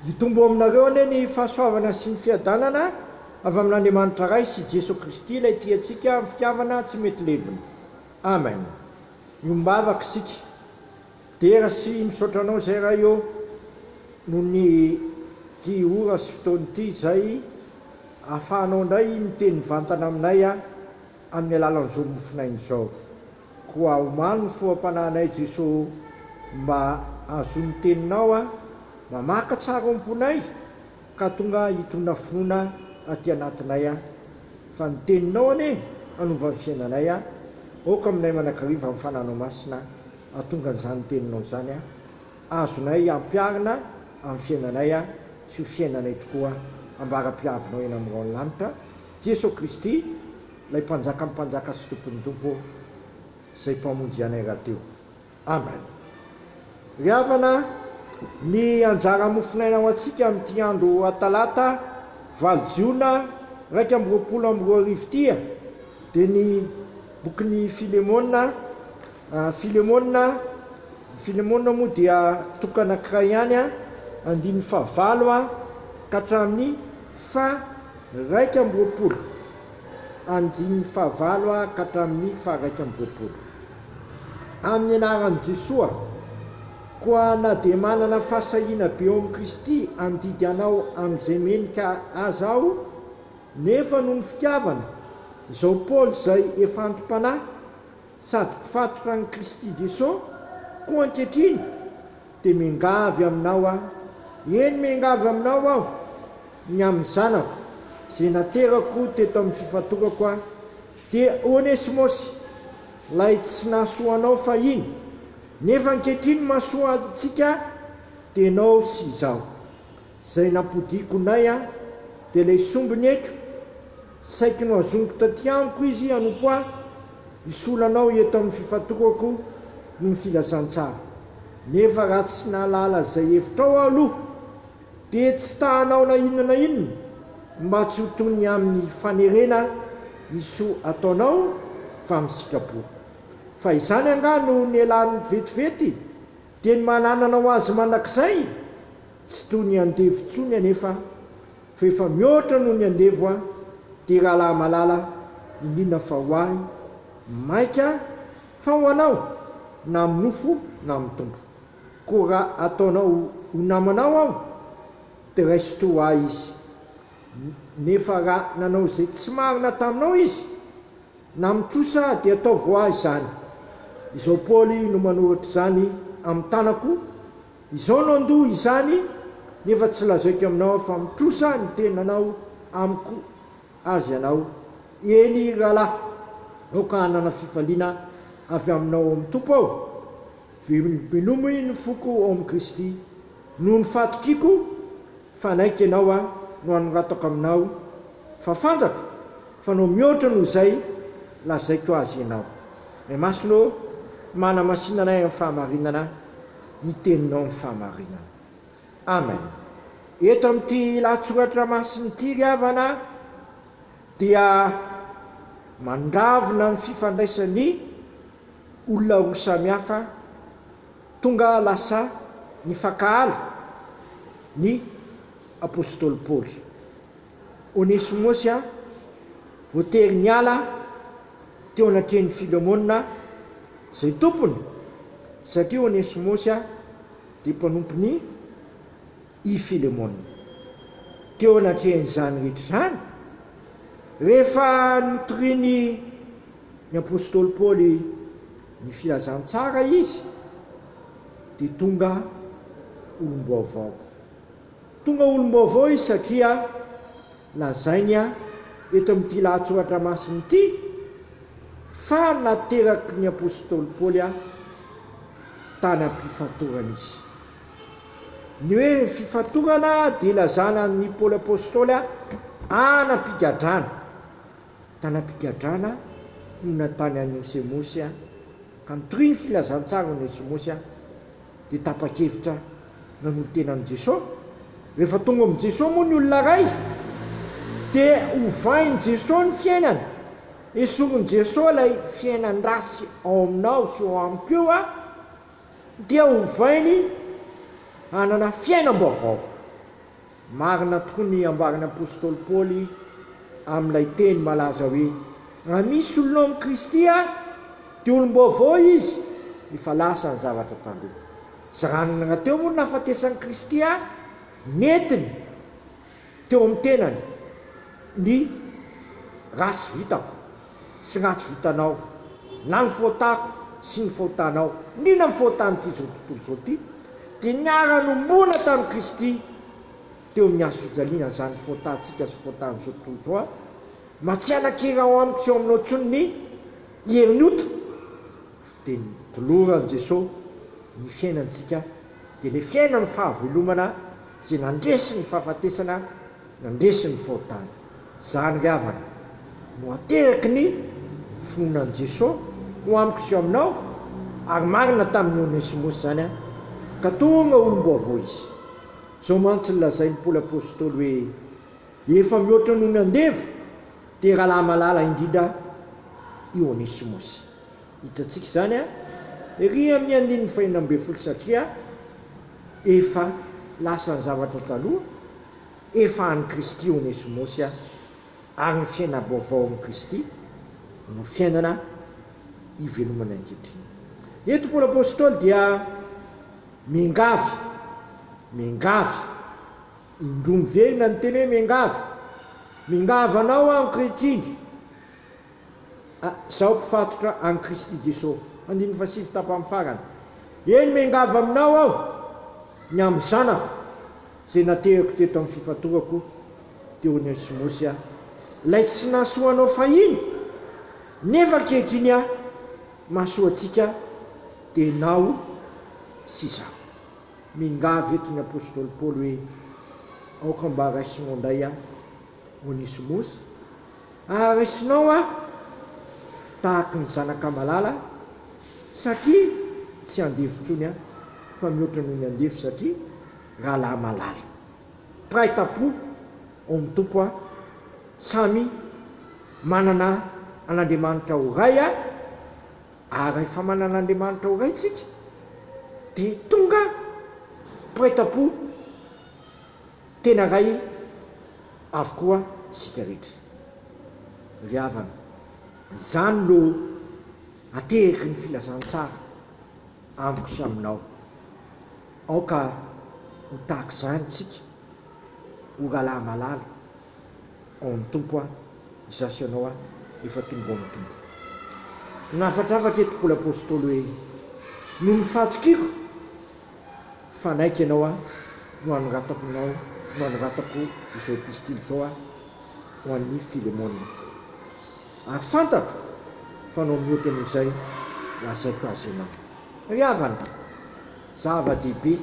Hitombo aminareo anie ny fahasoavana sy ny fiadanana avy amin'Andriamanitra Ray sy Jeso Kristy ilay tia antsika amin'ny fitiavana tsy mety levona. Amen. Miombavaka isika. Dera sy misaotra anao izay Ray ô noho ny ity ora sy fotoana ity izay ahafahanao indray miteny mivantana aminay amin'ny alalan'izao mofonaina izao. Koa omano ny foham-panahinay Jeso mba hahazoa ny teninao aho mamaka tsara ao am-ponay ka tonga hitona finoana aty anatinay aho fa ny teninao anie hanova ny fiainanay aho aoka aminay manakariva ny fananao masina hatonga an'izany teninao izany aho azonay ampiarina amin'ny fiainanay aho sy ho fiainanay tokoa ambara-piavinao eny amin'ny rahon'ny lanitra Jeso Kristy Ilay Mpanjakan'ny mpanjaka sy Tompon'ny tompo izay Mpamonjy anay rahateo. Amen. Ry havana, ny anjara mofonaina ho antsika amin'ity andro Talata valo Jiona iraika amby roapolo amby roa arivo ity dia ny bokin'i Filemona, Filemona, Filemona moa dia toko anankiray ihany, andininy fahavalo ka hatramin'ny faha iraika amby roapolo. andininy fahavalo ka hatramin'ny faharaika amby roapolo. Amin'ny anaran'i Jesoa koa na dia manana fahasahiana be ao amin'i Kristy handidy anao amin'izay menika aza aho, nefa noho ny fitiavana, izao Paoly izay efa anti-panahy sady mpifatotra an'i Kristy Jesoa koa ankehitriny, dia miangavy aminao aho, eny miangavy aminao aho, ny amin'ny zanako izay naterako teto amin'ny fifatorako aho, dia Onesimosy, ilay tsy nahasoa anao fahiny, nefa ankehitriny mahasoa antsika, dia ianao sy izaho. Izay nampodiako nay aho, dia ilay sombiny eto, saiky nohazoniko taty amiko izy hanompo ahy, hisolo anao eto amin'ny fifatorako noho ny filazantsara. Nefa raha tsy nahalala izay hevitrao aho aloha, Dia tsy ta hanao na inona na inona mba tsy ho toy ny amin'ny fanerena ny soa ataonao fa misika-bola. Fa izany angaha no nialany vetivety dia ny mananana ho azy mandrakizay? Tsy toy ny andevo intsony anefa fa efa mihoatra noho ny andevo aho, dia rahalahy malala, indrindra fa ho ahy, mainka, fa ho anao, na amin'ny nofo na amin'ny tombo. Koa raha ataonao ho namanao aho, dia raiso toa ahy izy. Nefa raha nanao izay tsy marina taminao izy, na mitrosa, dia ataovy ho ahy izany. Izao Paoly no manoratra izany amin'ny tanako, Izao no andoha izany, nefa tsy lazaiko aminao fa mitrosa ny tenanao amiko azy ianao, eny, rahalahy, aoka hanana fifaliana avy aminao ao amin'ny Tompo aho. Velominomy ny foko ao amin'i Kristy. Noho ny fahatokiako, fanaiky ianao aho, no anoratako aminao fa fantatro fa nao mihoatra noho izay lazaiko azy ianao. Ray Masina ô, manamasina anay amin'ny fahamarinana ny Teninao ny fahamarinana. Amen. Eto amin'ity lahatsoratra masina ity ry havana dia mandravona ny fifandraisan'ny. olona roa samihafa tonga lasa nifankahala ny apostoly Paoly. Onesimosy voatery niala teo anatrehan'i Filemona izay tompony satria Onesimosy dia mpanompon'i. i Filemona. Teo anatrehan'izany rehetra izany, rehefa notorian'ny ny apostoly Paoly ny filazantsara izy, dia tonga olom-baovao. Tonga olom-baovao izy satria lazainy eto amin'ity lahatsoratra masina ity fa nateraky ny apostoly Paoly tany am-pifatorana izy. Ny hoe fifantohana dia ilazana an'i Paoly Apostoly hanam-pigadrana. Tanam-pigadrana no natany an'i Osemosy amin'ny tohin'ny filazantsara ny Osemosy dia tapa-kevitra nanolo-tena amin'i Jesoa. Rehefa tonga amin'i Jesoa moa ny olona iray dia ovain'i Jesoa ny fiainany. Esorin'i Jesoa ilay fiainan-dratsy ao aminao sy ao amiko io. dia ovainy hanana fiainam-baovao. Marina tokoa ny ambaran'ny apostoly Paoly amin'ilay teny malaza hoe, Raha misy olona ao amin'i Kristy aho, dia olom-baovao izy, efa lasa ny zavatra taloha. Tsy ranona rahateo moa ny nahafatesan'i Kristy ahy, nentiny. Teo amin'ny tenany, ny ratsy vitako sy ny ratsy vitanao, na ny fotako sy ny fotanao, indrindra ny fotan'ity izao tontolo izao ity, dia niara-nombona tamin'i Kristy teo amin'ny hazo fijaliana, izany fotantsika sy fotan'izao tontolo izao a! Mba tsy hanan-kery ao amiko sy ao aminao intsony ny herin'ny ota! Dia notoloran'i Jesoa ny fiainantsika, dia ilay fiainan'ny fahavelomana Izay nandresy ny fahafatesana nandresy ny fahotana. Izany ry havana no ateraky ny finoanan'i Jesoa ho amiko sy ho aminao, ary marina tamin'i Onesimosy izany ka tonga olom-baovao izy. Izao mantsy no lazain'i Paoly Apostoly hoe, Efa mihoatra noho ny andevo dia rahalahy malala indrindra i Onesimosy. Hitantsika izany ery amin'ny andininy fahenina ambin'ny folo satria efa lasa ny zavatra taloha, efa an'i Kristy i Onesimosy ary ny fiaina-baovao amin'i Kristy no fiainana ivelomany ankehitriny. Eto Paoly Apostoly dia miangavy, miangavy, indroa miverina ny teny hoe miangavy, Miangavy anao aho ankehitriny, Izaho mpifatotra an'i Kristy Jesosy. Andininy fahasivy tapany farany. Eny, miangavy Aminao aho, ny amin'ny zanako, izay naterako teto amin'ny fifatorako, dia Onesimosy aho, ilay tsy nahasoa anao fahiny, nefa ankehitriny aho mahasoa antsika, dia ianao sy izaho. Miangavy eto ny apostoly Paoly hoe, Aoka mba raisinao indray aho, Onesimosy, Ary resinao aho tahaky ny zanaka malala satria tsy andevo intsony aho fa mihoatra noho ny andevo satria rahalahy malala. Mpiray tampo ao amin'ny Tompo aho, samy manana an'Andriamanitra ho Ray aho ary rehefa manana an'Andriamanitra ho Ray tsika dia tonga mpiray tampo. Tena ray avokoa isika rehetra. Ry havana, izany no ateraky ny filazantsara amiko sy aminao. Aoka ho tahaka izany isika, o rahalahy malala ao amin'ny Tompo a! izaho sy ianao a! efa tonga ao amin'ny Tompo. Nahafatrafatra eto Paoly Apostoly hoe, Noho ny fahatokiako Fanaiky ianao aho no hanoratako nao no hanoratako izao epistily izao aho ho an'i Filemona. Ary fantatro fa nao mihoatra noho izay lazaiko azy ianao. Ry havana, zava-dehibe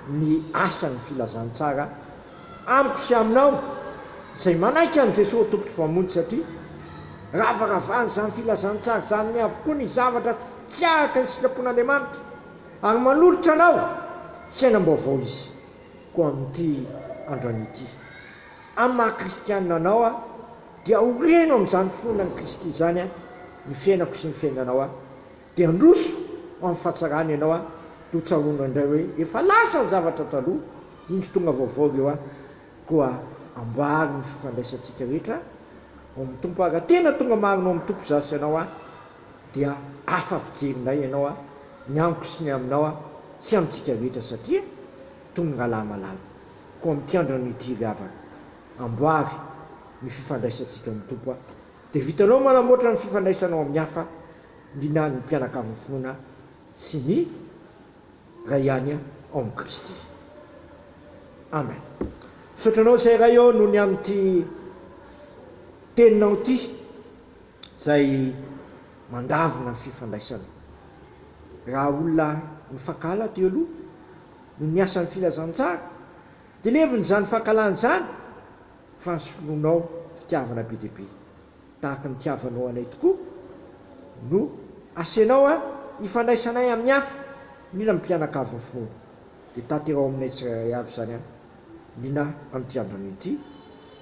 ny asan'ny filazantsara amiko sy aminao izay manaiky an'i Jesoa Tompo sy Mpamonjy satria ravaravan'izany filazantsara izany avokoa ny zavatra tsy araka ny sitrapon'Andriamanitra. Ary manolotra anao fiainam-baovao izy, koa amin'ity androany ity, amin'ny maha kristianina anao aho, dia horeno amin'izany finoana an'i Kristy izany aho, ny fiainako sy ny fiainanao aho, dia handroso ho amin'ny fahatsarany ianao aho, dia hotsaroanao indray hoe efa lasa ny zavatra taloha, indro tonga vaovao ireo aho, koa amboary ny fifandraisantsika rehetra ao amin'ny Tompo aho, raha tena tonga marina ao amin'ny Tompo izaho sy ianao aho, dia hafa fijery indray ianao a, ny amiko sy ny aminao a, tsy amintsika rehetra satria tongalahy malala, koa mitiandra noho ity ry havana, amboary ny fifandraisantsika amin'ny Tompo a, dia vitanao manamboatra ny fifandraisanao amin'ny hafa ny na ny mpianakavin'ny finoana sy ny Ray ihany ao amin'i Kristy. Amen. Misaotra anao izay Ray ô noho ny amin'ity teninao ity. izay mandavona ny fifandraisana. Raha olona nifankahala teo aloha no niasan'ny filazantsara, dia levona izany fankahalana izany fa nisoloanao fitiavana be dia be. Tahaka ny nitiavanao anay tokoa no asianao an ifandraisanay amin'ny hafa, mila ny mpianakavin'ny finoana dia tanteraho aminay tsirairay avy izany an liana amin'ity androany ity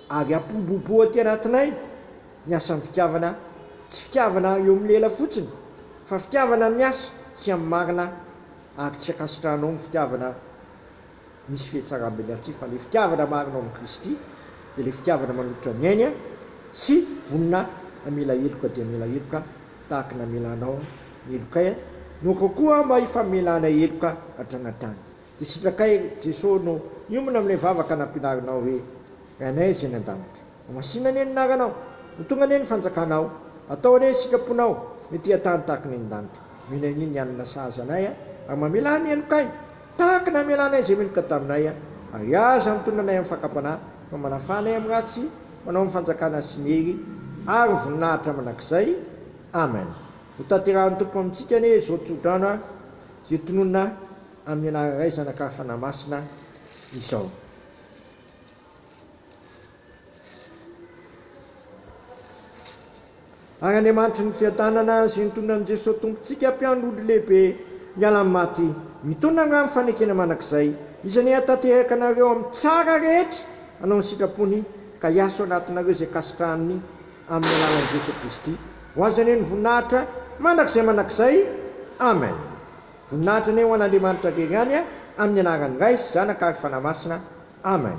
ary hampiroborobo aty anatinay ny asan'ny fitiavana, tsy fitiavana eo amin'ny lela fotsiny fa fitiavana amin'ny asa sy amin'ny marina ary tsy ankasitrahanao ny fitiavana misy fihetsaram-be ilay tsy fa ilay fitiavana marina ao amin'i Kristy dia ilay fitiavana manolotra ny ainy sy vonona hamela heloka dia hamela heloka tahaka ny namelanao ny helokay, nokao koa aho mba hifamelana heloka hatrany hatrany. Dia sitrakay Jesoa no hiomana amin'ilay vavaka nampianarinao hoe, Ry Anay izay any an-danitra. Homasina anie ny anaranao. Ho tonga anie ny fanjakanao. Atao anie ny sitraponao, mety hiha-tany tahaka ny any an-danitra. Mino anio ny hanina sahaza anay aho, ary mamelà ny heloka ahy, tahaka ny hamelanay izay meloka taminay aho. Ary aza mitonona anay amin'ny fakam-panahy, fa manafà anay amin'ny ratsy, manao ny fanjakana sy ny hery ary ny voninahitra mandrakizay. Amen. Hotanterahin'ny Tompo amintsika anie izao tsodrano ary izay tononina amin'ny anarana iray zanaka Fanahy Masina izao. Ary Andriamanitry ny fiadanana sy ny tononan'i Jesoa Tompontsika mpiandry ondry lehibe miala amin'ny maty, mitondra angaha amin'ny fanekena mandrakizay, izy anie hatateraka anareo amin'ny tsara rehetra hanao ny sitrapony ka hiaso anatinareo izay kasitrahany amin'ny alalan'i Jesoa Kristy. Ho Azy anie ny voninahitra mandrakizay mandrakizay. Amen. Voninahitra anie ho an' Andriamanitra very any amin'ny anaran'ny Ray sy Zanaka ary Fanahy Masina. Amen.